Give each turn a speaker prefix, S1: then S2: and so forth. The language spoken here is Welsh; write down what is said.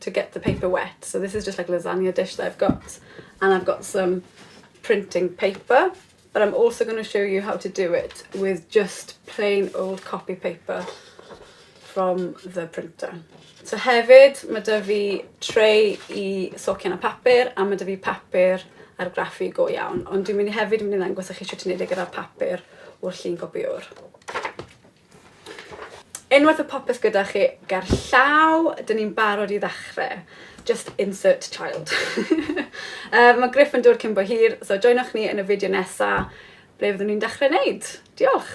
S1: to get the paper wet so this is just like lasagna dish that I've got and I've got some printing paper but I'm also going to show you how to do it with just plain old copy paper from the printer. So hefyd, mae dy fi treu i socian a papur, a mae dy fi papur ar graffu go iawn. Ond dwi'n mynd i hefyd mynd i ddangos i chi sut ti'n ei gyda papur o'r llun gopiwr. Unwaith y popeth gyda chi ger llaw, dyn ni'n barod i ddechrau. Just insert child. uh, mae Griff yn dod cyn bo hir, so joinwch ni yn y fideo nesa ble fyddwn ni'n dechrau wneud. Diolch!